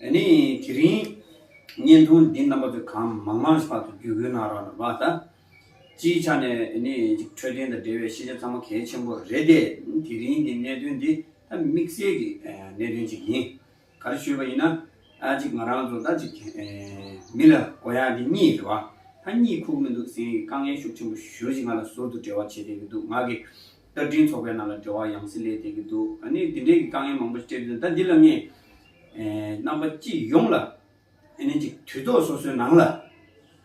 ནི་དེ་རིང་བརྙན་ཐུང་འདི་རྣམ་པ་པོའི་གང་མང་མང་ཞིག་ཕར་དུ་བརྒྱུད་དགོས་གནང་རོགས་གནང། སྤྱིའི་ཆ་ནས་ནི་འཕྲོད་བསྟེན་དང་འབྲེལ་བའི་ཤེས་བྱ་ཚང་མ་གལ་ཆེན་པོ་རེད་དེ། དེ་རིང་གི་གནད་དོན་འདི་ད་དམིགས་བསལ་གྱི་གནད་དོན་ཅིག་ཡིན། ག་རེ་ཞུས་པ་ཡིན་ན། གཅིག་ང་རང་ཚོ་ད་ཅིག་མི་ལ་གོ་ཡ་འདི་གཉིས་རེད་བ། ད་གཉིད་ཁུག་མི་འདུག་ཟེར་ཡི་དཀའ་ངལ་ཤུགས་ཆེན་པོ་ཞུ་ཞིག་ང་ལ་ཟུར་དུ་འབྲེལ་བ་བྱེད་བསྡད་ཀྱི་འདུག་ང་གི་རྟ་མགྲིན་ཚོགས་པའི་ནང་ལ་འབྲེལ་བ་ཡང་སེ་ལས་བསྡད་ཀྱི་འདུག་ནི་དེ་འདྲའི་གི་དཀའ་ངལ་མང་པོ་ཞིག་སྤྲད་དུས་ད་འདི་ལ་ངས་རྣམ་པ་སྤྱི་ཡོངས་ལ་ཨེ་ནན་ཅིག་དུས་ཐོག་སོ་སོའི་ནང་ལ་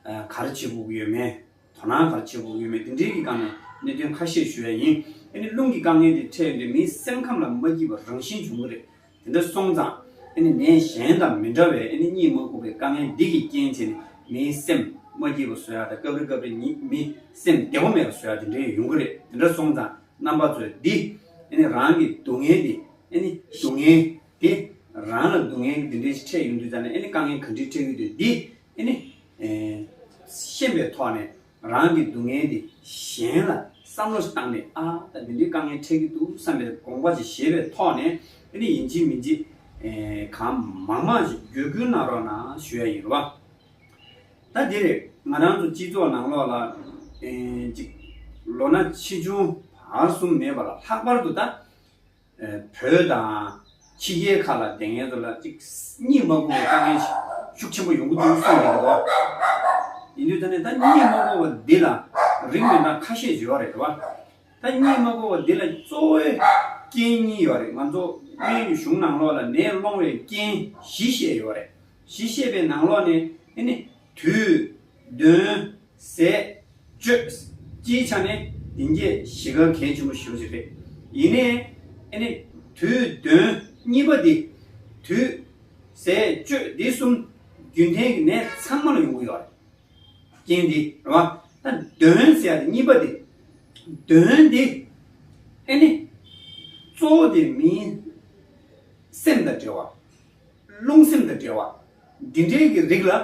གར་བྱེད་དགོས་ཀྱི་ཡོད་མེད་དོ་སྣང་གར་བྱེད་དགོས་ཀྱི་ཡོད་མེད་དེ་འབྲེལ་གྱི་སྒང་ནས་གནད་དོན་ཁ་ཤས་ཞུ་ཡ་ཡིན་ཨེ་ནི་རླུང་གི་དཀའ་ངལ་དེ་འཕྲད་དུས་མིའི་སེམས་ཁམས་ལ་མ་སྐྱིད་པ་རང་བཞིན་འབྱུང་གི་རེད་དེ་འདྲ་སོང་ཙང་ཨེ་ནི་ནད་གཞན་དང་མི་འདྲ་བའི་ཨེ་ནི་གཉིད་མ་ཁུག་པའི་དཀའ་ངལ་འདི་གི་རྐྱེན་བྱས་ནས་མིའི་སེམས་མ་སྐྱིད་པ་བཟོ་ཡ་དང་སྐབས་རེ་སྐབས་རེ་ཉིད་མི་སེམས་བདེ་བོ་མེད་པ་བཟོ་ཡ་དེ་འདྲའི་ཡོང་གི་རེད་དེ་འདྲ་སོང་ཙང་རྣམ་པ་ཚོས་འདི་ཨེ་ནི་རང་གི་སྡུག་བསྔལ་འདི་ཨེ་ནི་སྡུག་བསྔལ། དེ། རང་ལ་སྡུག་བསྔལ་འདི་འདྲའི་ཕྲད་ཡོང་དུས་ད་ནི་ཨེ་ནི་དཀའ་ངལ་གང་འདྲའི་ཕྲད་ཀྱི་འདུག་འདི་ཨེ་ནི། ཤེས་པའི་ཐོག་ནས་རང་གི་སྡུག་བསྔལ་འདི་གཞན་ལ་བསམ་བློ་ཞིག་བཏང་ནས་ཨ་ད་འདི་འདྲའི་དཀའ་ངལ་ཕྲད་ཀྱི་འདུག་བསམ་པའི་དགོངས་པ་ཞིག་བཞེས་པའི་ཐོག་ནས་ཨེ་ནི་ཡིན་གཅིག་མིན་གཅིག། གང་མང་མང་ཞིག་བརྒྱུད་སྐུལ་གནང་རོགས་གནང་ཞུ་ཡ་ཡིན་རོགས། ད་འདིར་ང་རང་ཚོ་སྤྱི་ཚོགས་ནང་ལོགས་ལ་ཅིག། ལོ་ན་ཆེ་ཆུང་བར་གསུམ་མེད་པར་ལྷག་པར་དུ་ད། བོད་དང། ཕྱི་རྒྱལ་ཁག་ལ་བདེན་གཉེར་དུ་ལ་གཉིས་དམག་དཔུང་གི་དཀའ་ངལ་ཤུགས་ཆེན་པོ་ཡོང་གི་འདུག་གསུངས་ཀྱི་འདུག་བ། ཡིན་དུས་ད་ནི་ད་གཉིས་དམག་དཔུང་བ་འདི་ལ་རིགས་མི་འདྲ་ཁ་ཤས་བརྗོད་བ་རེད་བ། ད་གཉིས་དམག་དཔུང་བ་འདི་ལ་གཙོ་བོའི་རྐྱེན་གཉིས་ཡོད་རེད་ང་ཚོ་སྨན་གྱི་གཞུང་ནང་ལོགས་ལ་ནད་སློང་བའི་རྐྱེན་བཞི་བཤད་ཡོད་རེད་བཞི་བཤད་པའི་ནང་ལོགས་ནས་ཨེ་ནི་དུས། བདུན། ཟས། སྤྱོད། སྤྱིའི་ཆ་ནས་དེང་རྒྱས་གཞིས་ཀར་གལ་ཆེན་པོ་ཞིག་རེད། ཡིན་ནའི། ཨེ་ནས། དུས། དོན། གཉིས་པ་འདི། དུས། ཟས། སྤྱོད་འདི་གསུམ། རྒྱུན་གཏན་གྱི་ནས་ཚང་མ་ལ་ཡོང་གི་ཡོད་རེད། རྐྱེན་འདི། རེད་བ། ད། དོན། ཟས་དེ་གཉིས་པ་འདི། དོན། འདི། ཨེ་ནས། གཙོ་བོ་དེ་མིའི། སེམས་དང་འབྲེལ་བ། རླུང་སེམས་དང་འབྲེལ་བ། འདི་འདྲའི་གི་རིགས་ལ།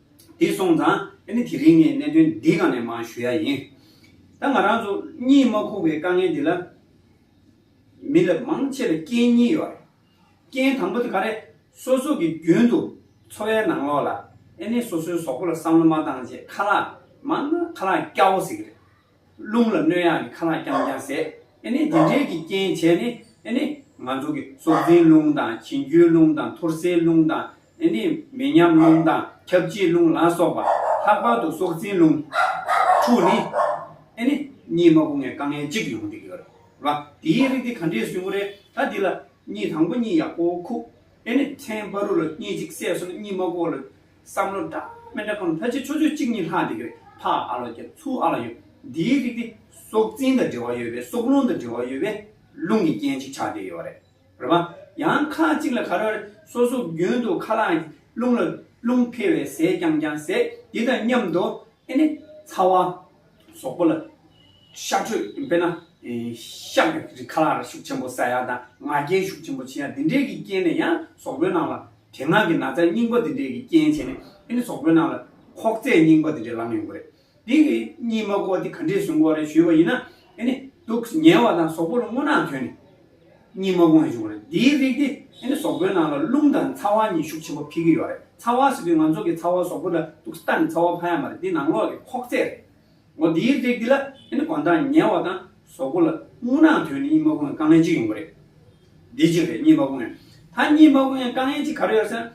དེ་སོང་ཙང་ཨེ་ནི་དེ་རིང་ནས་གནད་དོན་འདི་གང་ནས་མང་ཞུ་ཡ་ཡིན། ད་ང་རང་ཚོ་གཉིད་མ་ཁུག་པའི་དཀའ་ངལ་འདི་ལ། མི་ལབ་མང་ཆེ་ལ་རྐྱེན་གཉིས་ཡོད་རེད། རྐྱེན་དང་པོ་དེ་ག་རེད། སོ་སོ་གི་རྒྱུན་དུ་འཚོ་བའི་ནང་ལོག་ལ་ཨེ་ནི་སོ་སོའི་ཟོག་པོ་ལ་བསམ་བློ་མ་བཏང་རྗེས་ཁ་ལག་མང་ན་ཁ་ལག་སྐྱ་བོ་ཟེར་གི་རེད། རླུང་ལ་གནོད་ཡང་གི་ཁ་ལག་རྐྱང་རྐྱང་ཟད། ཨེ་ནི་འདི་འདྲའི་གི་རྐྱེན་བྱས་ནི། ཨེ་ནི། ང་ཚོ་གི་སྲོག་འཛིན་རླུང་དང་གྱེན་རྒྱུའི་རླུང་དང་འཐོར་སའི་རླུང་དང། ཨེ་ནི། མི་ཉམས་རླུང་དང་ཁྱབ་བྱེད་རླུང་ལ་སོགས་པ། ལྷག་པར་དུ་སྲོག་འཛིན་རླུང། དྲུག་ནི། ཨེ་ནི། གཉིས་མ་སྒོ་ངའི་དཀའ་ངལ་གཅིག་ཡོང་འདི་གི་ཡོད་རེད་བ། འདིའི་རིགས་འདི་ག་འདྲའི་བཟུད་མོ་རེད་ད་འདི་ལ། གཉིས་དང་པོ་གཉིས་ཡག་པོ་ཁུག། ཨེ་ནི། ཕྲན་བ་རུ་ལ་གཉིས་གཅིག་བསད་སོང་ན་གཉིས་མ་སྒོ་ལ། བསམ་བློ་འདྲ་མི་འདྲ་ཁོ་ན་ཕལ་ཆེར་ཕྱོགས་ཆོས་གཅིག་གཉིས་ལྷག་འདི་གར་ཕ་ཨ་ལོ་རྒྱ་མཚོ་ཨ་ལ་ཡོད། འདིའི་རིགས་དེ་སྲོག་འཛིན་དང་འབྲེལ་བ་ཡོད་པས་སྲོག་རླུང་དང་འབྲེལ་བ་ཡོད་པས་རླུང་གི་རྐྱེན་ཅིག་ཆགས་བསྡད་ཡོད་རེད། རེད་པ། ཡང་ཁ་ཅིག་ལ་ག་རེ་བ་རེད་སོ་སོ་རྒྱུན་དུ་ཁ་ལག་རླུང་ལ་རླུང་འཕེལ་བས་ཟས་རྐྱང་རྐྱང་ཟས་དེ་དང་མཉམ་དུ་ཨེ་ནི་ཚ་བ། སོག་པོ་ལ། ཤ་ཁྲོད་དཔེར་ན། ཤ་བའི་རི་ཁ་ལ་ཤུགས་ཆེན་པོ་ཟ་ཡ་དང་ང་རྒྱལ་ཤུགས་ཆེན་པོ་བྱེད་ཡ་དེ་འདྲས་ཀྱི་རྐྱེན་ནས་ཡང་སོག་པོའི་ནང་ལ་དེ་སྔར་གྱི་ན་ཚ་རྙིང་པ་དེ་འདྲས་ཀྱི་རྐྱེན་བྱས་ནས་ཨེ་ནི་སོག་པོའི་ནང་ལ་ཁོག་རྩེད་རྙིང་པ་དེ་འདྲས་ལངས་ཡོང་གི་རེད། དེ་གི་གཉིས་མ་གོ་བ་དེ་ག་འདྲས་བཟུང་གོ་རེ་ཞུས་པ་ཡིན་ན་ཨེ་ནི་དུག་ཉལ་བ་དང་སོག་པོ་ལ་སྔོ་ནག་ཐོན་ནས། གཉིས་མ་དབང་འབྱུང་བ་རེད། འདིའི་རིགས་དེ་ཨེ་ནི་ཟོག་པོའི་ནང་ལ་རླུང་དང་ཚ་བ་གཉིས་ཤུགས་ཆེན་པོ་འཕེལ་གྱི་ཡོད་རེད། ཚ་བ་ཟེར་དུས་ང་ཚོ་གི་ཚ་བ་ཟོག་པོ་ལ་གཏུགས་ས་ད་ནི་ཚ་བ་ཕ་ཡ་མ་རེད་འདི་ནང་ལོགས་ཀྱི་ཁོག་རྩེད་རེད། ངོ་འདིའི་རིགས་འདི་ལ་ཨེ་ནི་གོ་མདངས་ཉེ་བ་དང་ཟོག་པོ་ལ་རྔུལ་ནག་དོད་ནི་གཉིས་མ་དབང་དཀའ་ངལ་གཅིག་ཡོང་གི་རེད། འདི་གཅིག་རེད་གཉིས་མ་དབང། ད་གཉིས་མ་དབང་དཀའ་ངལ་གཅིག་ག་རེ་ཡོད་སེམས།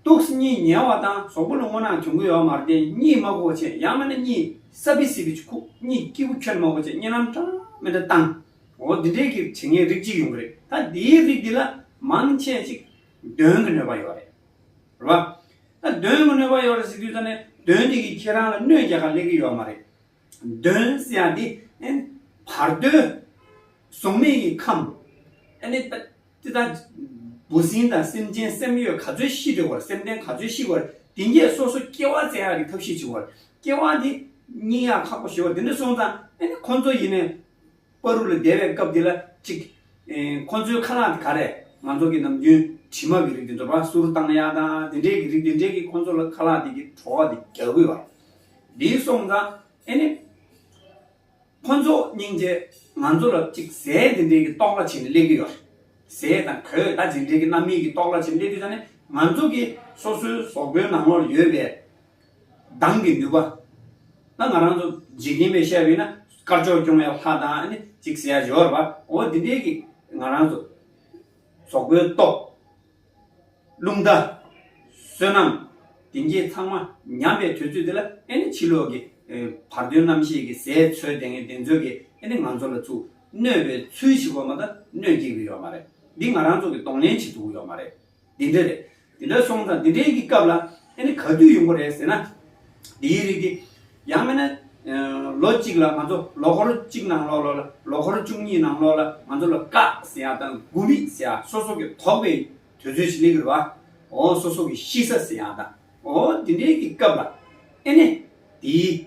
གཏུགས་ས་གཉིས་ཉེ་བ་དང་ཟོག་པོ་ལ་རྔུལ་ནག་དོད་གི་ཡོད་མ་རེད་འདི་གཉིས་མ་གོ་ཆེ་ཡང་མེད་ན་གཉིས་སྲབ་བི་སི་བི་ཆུ་ཁུག་གཉིས་སྐྱིད་པོ་ཁྱོད་མ་གོ་ཆེ་གཉིས་རྣམ་གྲངས་མེད་འདྲ་བཏང། འོ་འདི་འདྲའི་གི་དྲི་ངན་རིགས་གཅིག་ཡོང་གི་རེད་ད་འདིའི་རིགས་འདི་ལ་མང་ཆེ་གཅིག་འདོན་གི་ནུས་པ་ཡོད་རེད་རེད་བ། ད་འདོན་གི་ནུས་པ་ཡོད་རེད་ཟེར་དུས་ད་ནས་འདོན་འདི་གི་ཁྱེད་རང་ལ་གནོད་རྒྱག་ག་ལེགས་གི་ཡོད་མ་རེད། འདོན་ཟེར་ཡ་འདི་ཨན་བར་དོའི་གཟུགས་མེད་གི་ཁམས་ཨ་ནི་ད་འདི་ད་འབུ་སྲིན་དང་སེམས་ཅན་སེམས་ཡོད་ག་ཚོད་ཤི་འདྲི་བར་སེམས་ལྡན་ག་ཚོད་ཤི་བར་དེ་འགས་སོ་སོ་སྐྱེ་བ་བཙལ་ཡག་གི་ཐབས་ཤེས་བྱི་བར་སྐྱེ་བ་འདི་སྙིང་ཡག་ཁག་པོ་ཞེས་བ་འདི་འདྲ་གསུངས་ཙང་ཨ་ནི་ཁོང་ཚོ་ཡིན་ནས་པ་རུ་ལ་བསྡད་པའི་སྐབས་འདི་ལ་གཅིག། ཁོ་ཚོའི་ཁ་ལག་དེ་ག་རེད། ང་ཚོ་གི་ནམ་རྒྱུན་དྲི་མ་གི་རིགས་དེ་འདོར་བ་སུར་བཏང་ཡག་དང་དེ་འདྲའི་གི་རིགས་དེ་འདྲས་ཀྱིས་ཁོ་ཚོ་ལ་ཁ་ལག་དེ་གི་བྲོ་བ་དེ་རྒྱག་དགོས་བ། འདིའི་སོང་ཙང་ཨེ་ནི། ཁོ་ཚོ་སྙིང་རྗེ་ང་ཚོ་ལ་གཅིག་ཟས་དེ་འདྲས་གི་རྟོག་ལ་བྱེད་ནས་སླེབས་གི་ཡོད་རེད། ཟས་དང་གོས་དང་དེ་འདྲས་གི་རྣམ་སྨིན་གི་རྟོག་ལ་བྱེད་ནས་སླེབས་དུས་ད་ནི་ང་ཚོ་གི་སོ་སོའི་ཟོག་པོའི་ནང་ལོག་ལ་ཡོད་པའི་གདངས་ཀྱི་ནུས་པ། ད་ང་རང་ཚོ་འཇིག་རྟེན་པས་བཤད་པས་ན་དཀར་ཕྱོགས་སྐྱོང་བའི་ལྷ་དང་ནི་ཅིག་ཟེར་ཡ་འོ་འདི་འདྲའི་གི་ང་རང་ཚོ་ཟོག་པོའི་ཏོག། རླུང་རྟ། བསོད་ནམས། དེ་འདྲས་ཚང་མ་ཉམས་པའི་དུས་ཚོད་འདི་ལ་ཨེ་ནི་ཕྱི་ལོག་གི་བར་དོའི་རྣམ་ཤེས་ཀྱི་ཟས་འཚོལ་དེ་ངན་དེ་འཚོལ་གི་ཨེ་ནི་ང་ཚོ་ལ་ཚུགས་གནོད་པའི་ཚུལ་ཞིག་གོ་མ་ད་གནོད་སྐྱེལ་གི་ཡོད་མ་རེད་འདི་ང་རང་ཚོ་གི་གདོང་ལེན་བྱེད་ཐུབ་ཀྱི་ཡོད་མ་རེད། འདི་འདྲ་རེད། འདི་འདྲ་སོང་ཙང་འདི་འདྲའི་གི་སྐབས་ལ་ཨེ་ནི་ག་དུས་ཡོང་པ་རེད་ཟེར་ན། འདིའི་རིགས་ཏེ། ཡང་མིན་ན། ལོ་གཅིག་ལ་ང་ཚོ་ལོ་འཁོར་གཅིག་ནང་ལོགས་ལོགས་ལ་ལོ་འཁོར་བཅུ་གཉིས་ནང་ལོགས་ལ་ང་ཚོ་ལ་ཀ་ཟེར་ཡག་དང་དགུ་མི་ཟེར་ཡག་སོ་སོ་གི་དོགས་པའི་དོལ་ཚོལ་ཞིག་ལེགས་རེད་བ། འོ་སོ་སོ་གི་ཤི་ས་ཟེར་ཡག་དང་འོ་འོ་འདི་འདྲའི་གི་སྐབས་ལ་ཨེ་ནི་དེའི།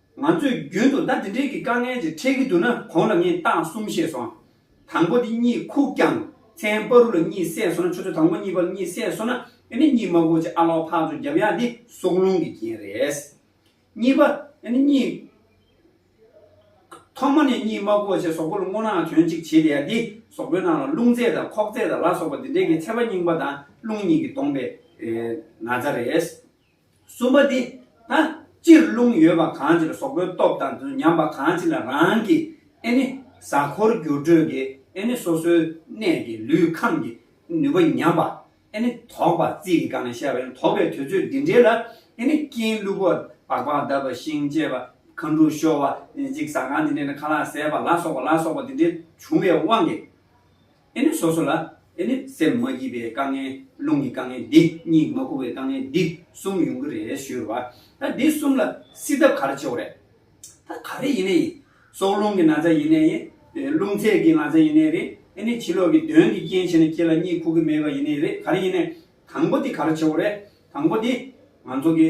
ང་ཚོས་རྒྱུན་དུ་ཟླ་འདི་འདྲིལ་གྱི་དཀའ་ངལ་ཅིག་འཕྲད་ཀྱི་འདུག་ན་གོང་ལ་ངས་རྟགས་གསུམ་བཤད་སོང། དང་པོ་འདི་གཉིས་ཁུག་རྐྱང། མཚན་པ་རུ་ལ་གཉིས་བསྲེས་སོང་ན་ཆུ་ཚོད་དང་པོ་གཉིས་པ་ལ་གཉིས་བསྲེས་སོང་ན་ཨེ་ནི་གཉིས་མ་གོ་ཅི་ཨ་ལོག་འཕགས་ཚོ་རྒྱབ་ཡ་འདི་སྲོག་རླུང་གི་རྐྱེན་རེད། གཉིས་པ། ཨེ་ནི་གཉིས། ཐོག་མ་ནས་གཉིས་མ་གོ་ཅི་སོག་པོ་ལ་སྔོ་ནག་དོན་གཅིག་བྱེད་དེ་ཡ་འདི་སོག་པོའི་ནང་ལ་རླུང་རྩེ་དང་ཁོག་རྩེ་དང་ལ་སོགས་པ་འདི་འདྲིལ་གྱི་ཚད་པ་རྙིང་པ་དང་རླུང་གཉིས་ཀྱི་སྟོང་པའི་ན་ཚ་རེད། གསུམ་པ་ནི། ད་སྤྱིར་རླུང་ཡོད་པ་གང་ཅིར་ཟོག་པོའི་སྟོབས་དང་དུ་ཉམས་པ་གང་ཅི་ལ་རང་གི་ཨེ་ནི་གཟའ་འཁོར་འགྱུར་འགྲོས་ཀྱི་ཨེ་ནི་སོ་སོའི་གནས་ཀྱི་ལུས་ཁམས་ཀྱི་ནུས་པ་ཉམས་པ་ཨེ་ནི་དོགས་པ་རྩིས་ཀྱི་གང་ཞེས་པ་ཡང་དོགས་པའི་དུས་ཚོད་འདི་འདྲའི་ལ་ཨེ་ནི་སྐྱིན་བསླུ་བ་བག་བག་གདབ་པ་ཤིང་བཅད་པ་ཁ་འབྲུག་བཤོར་བ་འཇིགས་ཟ་གང་དེ་འདྲའི་ནི་ཁ་ལག་ཟད་པ་ལ་སོགས་པ་ལ་སོགས་པ་དེ་འདྲའི་བྱུང་བའི་དབང་གིས། ཨེ་ནི་སོ་སོ་ལ། ཨེ་ནི་སེམས་མ་སྐྱིད་པའི་དཀའ་ངལ། རླུང་གི་དཀའ་ངལ་འདི་གཉིས་མ་ཁུག་པའི་དཀའ་ངལ་འདི་གསུམ་ཡོང་གི་རེད་ཞུས་པ། ད་འདི་གསུམ་ལ་སྲིད་ཐབས་ག་རེ་ཆེ་བ་རེད། ད་ག་རེ་ཡིན་ནའི་ཡིན། སྲོག་རླུང་གི་ན་ཚ་ཡིན་ནའི་ཡིན། རླུང་ཚད་ཀྱི་ན་ཚ་ཡིན་ནའི་རེད། ཨེ་ནི་བྱིས་ལོག་གི་གདོན་གྱི་རྐྱེན་བྱས་ནས་ཁྱེད་ལ་གཉིད་ཁུག་གི་མེད་པ་ཡིན་ནའི་རེད་ག་རེ་ཡིན་ནའི། དང་པོ་འདི་ག་རེ་ཆེ་བ་རེད། དང་པོ་འདི། ང་ཚོ་གི།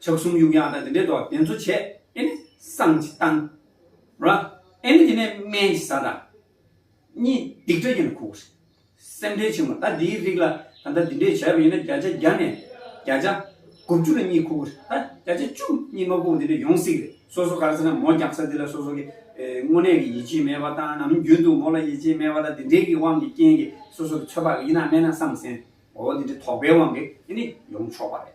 ཕྱོགས་གསུམ་གཡུག་ཡང་ན་འདི་འདྲའི་དོགས་ཟླས་མཛོད་བྱས་ཨེ་ནི་སངས་ཀྱི་གཏམ། ར་ཨེ་ནི་དེ་ནས་སྨན་གྱི་ས་དང། གཉིས་སྡིག་སྒྲ་ཡིན་ན་ཁུག། སེམས་ཁྲལ་ཆེན་མོ་ད་འདིའི་རིགས་ལ་ད་ལྟ་འདི་འདྲས་བྱས་པ་ཡིན་ན་བརྒྱ་ཆ་བརྒྱ་ནས་བརྒྱ་ཆ་དགུ་བཅུ་ལ་གཉིས་ཁུག་ད་བརྒྱ་ཆ་བཅུ་གཉིས་མ་ཁུག་འདི་འདྲས་ཡོང་སྲིད་རེད་སོ་སོ་གར་ཟེར་ན་མོ་རྒྱག་ས་འདི་ལ་སོ་སོ་གི་དངོས་གནས་ཀྱི་ཡིད་ཆེས་མེད་པ་དང་ནམ་རྒྱུན་དུ་མོ་ལ་ཡིད་ཆེས་མེད་པ་དང་འདི་འདྲས་ཀྱི་དབང་གི་རྐྱེན་གྱིས་སོ་སོར་ཚོད་དཔག་གི་ཡིན་ན་སྨན་ན་སངས་སེན་འོ་འདི་འདྲས་དོགས་པའི་དབང་གིས་ཨེ་ནི་ཡོང་ཆོག་པ་རེད།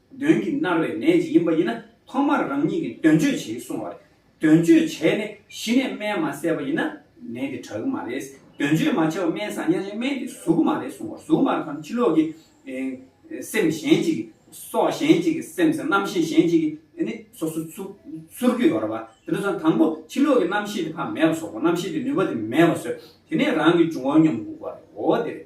དོན་གྱིས་མནར་བའི་ནད་ཅིག་ཡིན་པ་ཡིན་ན་ཐོག་མར་རང་ཉིད་ཀྱིས་དོན་གཅོད་བྱེད་གསུང་བ་རེད། དོན་གཅོད་བྱས་ནས་གཞི་ནས་སྨན་མ་བསད་པ་ཡིན་ན་ནད་དེ་དྲག་གི་མ་རེད། དོན་གཅོད་མ་བྱས་པར་སྨན་བཟང་ཉག་ཅིག་སྨན་དེ་ཟུག་གི་མ་རེད་གསུང་བ་ཟུག་མ་རེད་དམ་ཕྱི་ལོགས་ཀྱི་སེམས་གཞན་ཅིག་གིས་སྲོག་གཞན་ཅིག་གིས་སེམས་སམ་རྣམ་ཤེས་གཞན་ཅིག་གིས་ནི་སོ་སོ་ཚུར་འཁྱུད་ཡོང་ར་བ་དེ་ལོས་སམ་དང་པོ་ཕྱི་ལོགས་ཀྱི་རྣམ་ཤེས་དེ་ཕ་མེས་པ་སོག་པོ་རྣམ་ཤེས་དེ་ནུས་པ་དེ་མེས་པ་བཟོས་དེ་ནས་རང་གི་འབྱུང་བ་ཉོམ་འགུག་པ་རེད་འོ་དེ་རེད།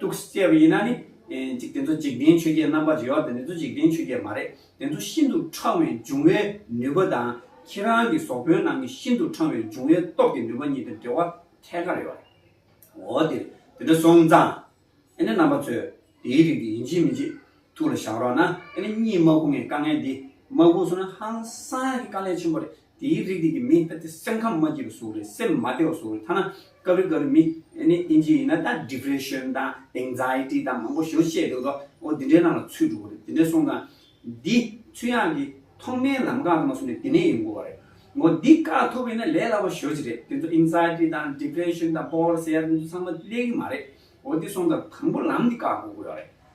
ཐུགས་སུ་བསྐྱེད་པ་ཡིན་ན་ནི། འཇིག་རྟེན་གཙོ་འཇིག་རྟེན་ཆོས་བརྒྱད་རྣམ་པར་འབྱེད་པ་དེ་ནི་གཙོ་འཇིག་རྟེན་ཆོས་བརྒྱད་མ་རེད། དེ་ཚོ་ཤིན་ཏུ་འཕྲང་བའི་འབྱུང་བའི་ནུས་པ་དང་ཁྱེད་རང་གི་ཟོག་དཔོན་རྣམས་ཀྱི་ཤིན་ཏུ་འཕྲང་བའི་འབྱུང་བའི་སྟོབས་ཀྱི་ནུས་པ་གཉིས་དེར་འབྲེལ་བ་ཐད་ཀར་ཡོད་རེད། འོ་དེ་དེ་འདྲ་སོང་ཙང། ཨེ་ནས་རྣམ་པ་ཚོས་དེའི་རིགས་དེ་ཡིན་གྱི་མིན་གྱི། ཐུགས་ལ་བཞག་རོགས་གནང། ཨ་ནི་གཉིད་མ་ཁུག་ངའི་དཀའ་ངལ་འདི། མ་ཁུག་སོང་ན་ཧང་སངས་ཀྱི་དཀའ་ལས་ཆེན་པོ་རེད། དེའི་རིགས་འདི་ཀྱི་མི་ད་དེ་སེམས་ཁམས་མ་སྐྱིད་པ་ཟུག་རེད་སེམས་མ་བདེ་བ་ཟུག་རེད་ཐ་ན་སྐབས་རེ་སྐབས་རེ་མི་ཨ་ནི་ཨིན་ཇི་ཡིན་ན་ད Depression དང Anxiety དང་མང་པོ་ཞེས་པ་བཤད་འདུག་ད་ཨོ་དེ་འདྲའི་ནང་ལ་ཚུད་འགྲོ་གི་རེད་དེ་འདྲས་སོང་ཙང། འདི་ཚུད་ཡག་གི་ཐོག་མའི་ལམ་ཁ་ལ་མ་སོང་ནས་དེ་ནས་ཡོང་དགོས་བ་རེད། ངོ་འདི་བཀག་ཐུབ་ཡོད་ན་ལས་སླ་བ་ཞོ་གཅིག་རེད་དེ་ཚོ Anxiety དང Depression དང་སྤོ་བོར་ཟེར་ཡ་དེ་ཚོ་ཚང་མ་ལས་གི་མ་རེད་ཨོ་དེ་སོང་ཙང་དང་པོ་ལམ་འདི་བཀག་དགོས་དགོས་བ་རེད།